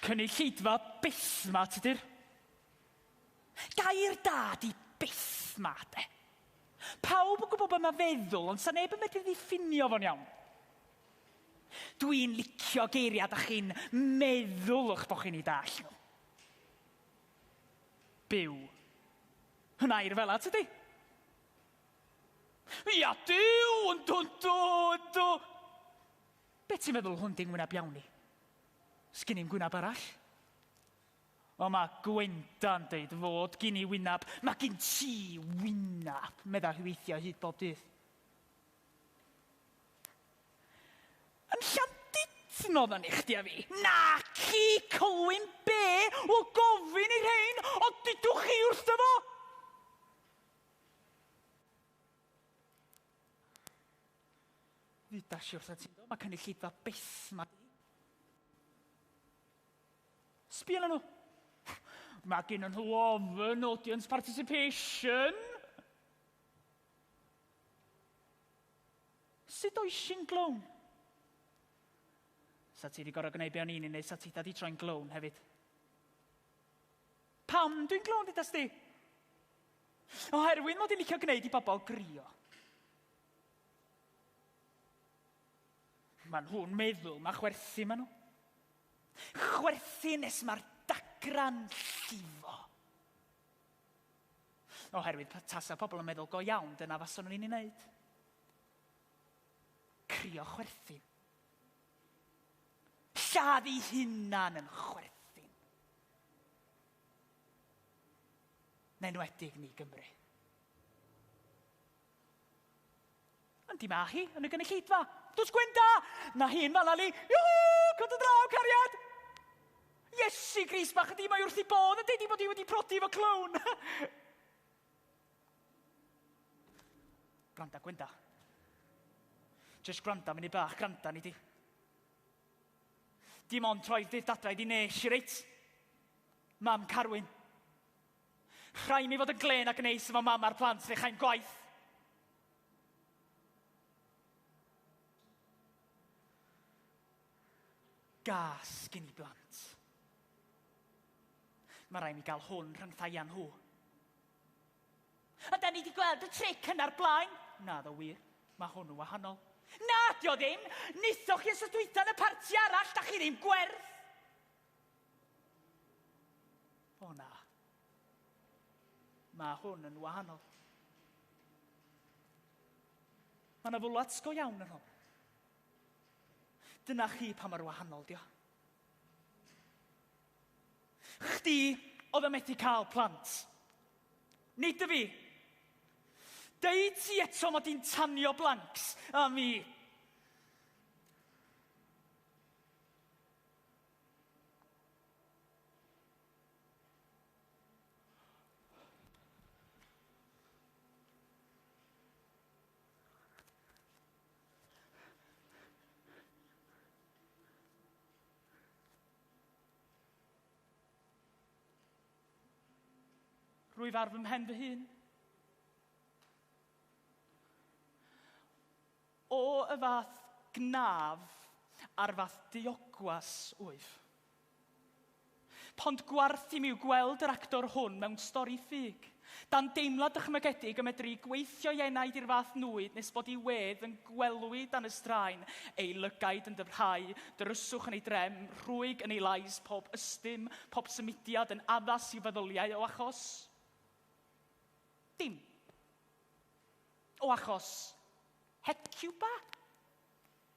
Cynulleidfa bethmat ydy'r gair da di bethmat e. Pawb yn gwybod beth mae feddwl, ond sa neb yn medru ddiffinio fo'n iawn. Dwi'n licio geiriau da chi'n meddwl o'ch bod chi'n ei dall nhw. Byw. Yn air fela, tydi? Ia, Duw! Yndw, yndw, yndw! Be ti'n feddwl hwn di ngwyneb iawn i? Sgin i'm gwyneb arall. O, mae Gwenda'n deud fod gin i wyneb. Mae gin ti wyneb, medda hi weithiau hyd bob dydd. Yn Llandudno odda ni chdi a fi. Naci, Culwyn be? Wel gofyn i rhein, ond dudwch chi wrtho fo! Ddudas i wrtha ti do, mae cynulleidfa byth ma di. Sbia na nhw. Mae gen nhw ofn audience participation. Sut oes sy'n glown? Sa ti wedi gorfod gwneud be o'n i'n ei wneud, sa ti wedi troi'n glown hefyd. Pam dwi'n glown, dyda sti? Oherwydd mod i'n licio gwneud i bobl grio. Mae nhw'n meddwl mae chwerthu maen nhw. Chwerthu nes mae'r dagran llifo. Oherwydd tasa pobl yn meddwl, go iawn, dyna faswn nhw'n ei wneud. Crio chwerthin. Lladd ei hunan yn chwerthin. Neu'n wedig ni Gymru. Yndi mae hi, yn y gynulleidfa. Does Gwenda! Na hi yn Malali. Iwhw! Cod y draw, cariad! Iesu gris bach ydi, mae wrth i bodd yn deud i bod hi wedi prodi fo clown. granda, Gwenda. Just granda, mynd i bach, granda ni di. Dim ond troi'r dydd dadra i di nes i reit. Mam Carwyn. Rhaid mi fod yn glên a gneis efo mam a'r plant fe chai'n gwaith. Gas gyn i blant. Mae rhaid mi gael hwn rhyngthau â nhw. A da ni wedi gweld y tric yna'r blaen. Na, ddo wir. Mae hwn yn wahanol. Na, dio ddim! Nithoch chi os ydwytho yn y parti arall, da chi ddim gwerth! O na. Mae hwn yn wahanol. Mae yna fwlats go iawn yn hwn. Dyna chi pa mae'r wahanol, dio. Chdi oedd yn methu cael plant. Nid y fi. Deud ti eto mod i'n tanio blanks a mi. Rwyf ar fy mhen fy hun. O, y fath gnaf a'r fath diogwas, wyf. Pond gwarth i mi yw gweld yr actor hwn mewn stori ffug. Dan deimlad dychmygedig y medru gweithio i enaid i'r fath nwyd nes bod i wedd yn gwelwi dan y straen, ei lygaid yn dyfrhau, dryswch yn ei drem, rhwyg yn ei lais, pob ystum, pob symudiad yn addas i'w feddyliau o achos. Dim. O achos Hecuba?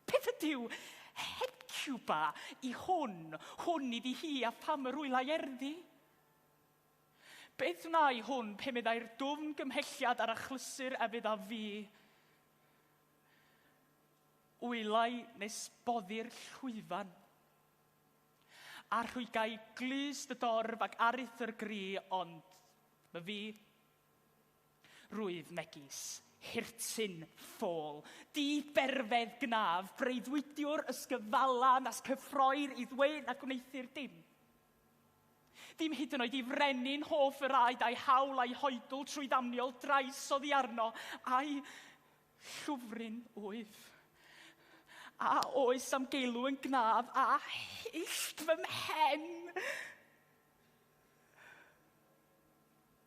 Beth ydyw Hecuba i hwn? Hwn iddi hi a pham yr hwylau erddi? Beth wnai hwn pe meddai'r dwfn gymhelliad ar achlysur a fydd a fi? Wylau nes boddi'r llwyfan. A rhwygai glust y dorf ac aruthur gri, ond my fi, Rwyf megis hirtyn ffôl, di-berfedd gnaf, breuddwydiwr ysgyfala nas cyffroir i ddweud na gwneuthur dim. Dim hyd yn oed i frenin hoff yr aed a'i hawl a'i hoedl trwy ddamniol drais oddi arno, a'i llwfryn wyf. A oes am geilw yn gnaf a hillt fy mhen?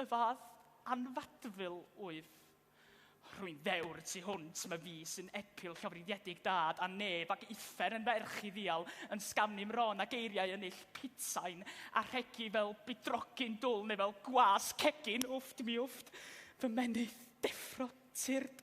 Y fath anfadful wyf. Rwy'n ddewr y tu hwnt, mae fi sy'n epil llofruddiedig dad a neb ac uffern yn ferch i ddial yn sgamnu mron a geiriau yn ill pitsain a rhegi fel bydrogyn dwl neu fel gwas cegin, wfft mi wfft, fy menydd deffro tyrd.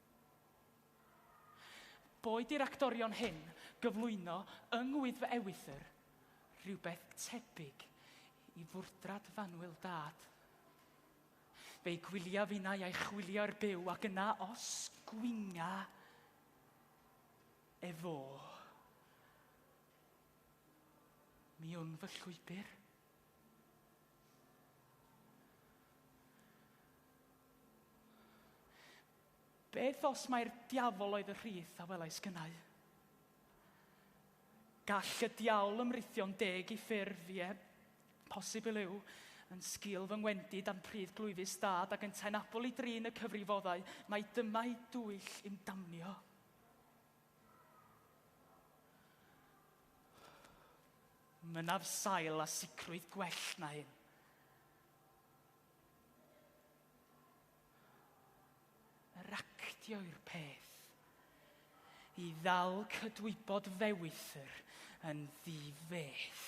Boed i'r actorion hyn gyflwyno yng Ngwyddfa Ewythr rhywbeth tebyg i fwrdrad fanwl dad, fe'i gwylia finnau a'i chwilio i'r byw ac yna os gwynga efô, mi wn fy llwybr. Beth os mai'r diafol oedd y rhith a welais gynnau? Gall y diawl ymrithio'n deg i ffurf, ie, posibl yw, yn sgil fy ngwendid a'm pridd glwyfus dad ac yntau'n abl i drin y cyfrifoddau, mai dyma'i dwyll i'm damnio. Mynaf sail a sicrwydd gwell na hyn. Yr actio yw'r peth. I ddal cydwybod fewithr yn ddi-feth.